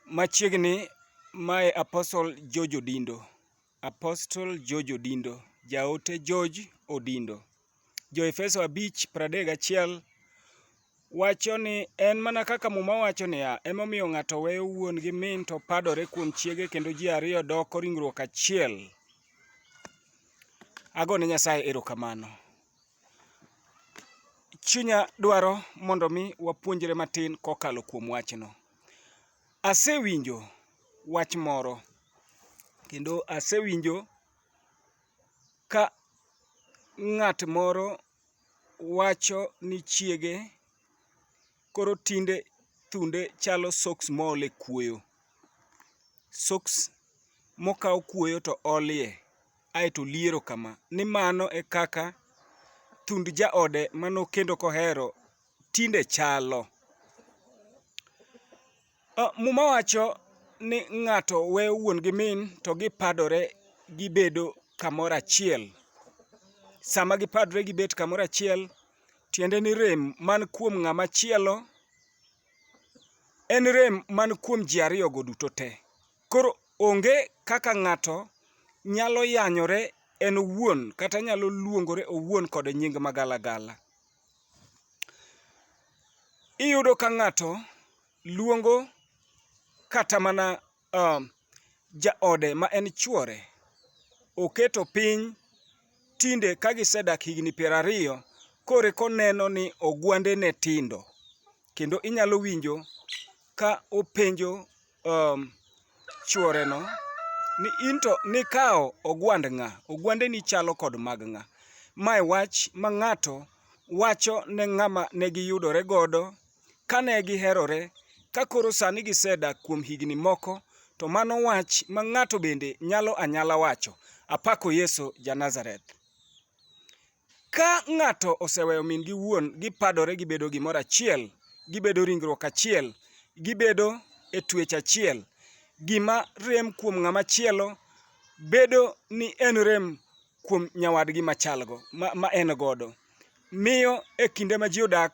Machiegni mae Apostle George Odindo. Apostle George Odindo. Jaote George Odindo. Jo Efeso 5:31 wacho ni en mana kaka muma wacho niya, emomiyo ng'ato weyo wuon gi min to padore kuom chiege kendo ji ariyo doko ringruok achiel. Agone Nyasaye erokamano. chunya dwaro mondo mi wapuonjre matin kokalo kuom wachno. Asewinjo wach moro kendo asewinjo ka ng'at moro wacho ni chiege koro tinde thunde chalo soks mool e kuoyo. Soks mokaw kuoyo to olie. ae to liero kama, ni mano e kaka thund jaode ma nokendo kohero tinde chalo. Muma wacho ni ng'ato weyo wuon gi min to gipadore gibedo kamoro achiel. Sama gipadore gibet kamoro achiel, tiende ni rem man kuom ng'ama chielo en rem man kuom ji ariyogo duto te. Koro onge kaka ng'ato nyalo yanyore en owuon kata nyalo luongore owuon kod nying magalagala. Iyudo ka ng'ato luongo kata mana uh, jaode ma en chuore oketo piny tinde ka gisedak higni piero ariyo kore koneno ni ogwande ne tindo kendo inyalo winjo ka openjo um, chworeno ni into nikawo ogwand ng'a ogwandeni chalo kod mag ng'a mae wach ma ng'ato wacho ne ng'ama ne giyudore godo kane giherore ka koro sani gisedak kuom higni moko to mano wach ma ng'ato bende nyalo anyala wacho apako yesu ja nazareth Ka ng'ato oseweyo min gi wuon, gipadore gibedo gimoro achiel, gibedo ringruok achiel, gibedo e twech achiel. Gima rem kuom ng'ama chielo bedo ni en rem kuom nyawadgi machalgo ma en godo. Miyo e kinde ma ji odak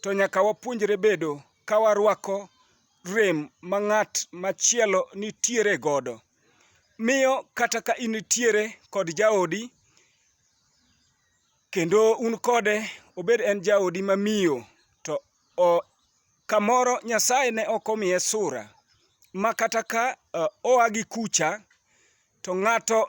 to nyaka wapuonjre bedo ka warwako rem ma ng'at machielo nitiere godo. Miyo kata ka in nitiere kod jaodi, kendo un kode obed en jaodi mamiyo to o, kamoro Nyasaye ne ok omiye sura ma kata ka uh, oa gi kucha to ng'ato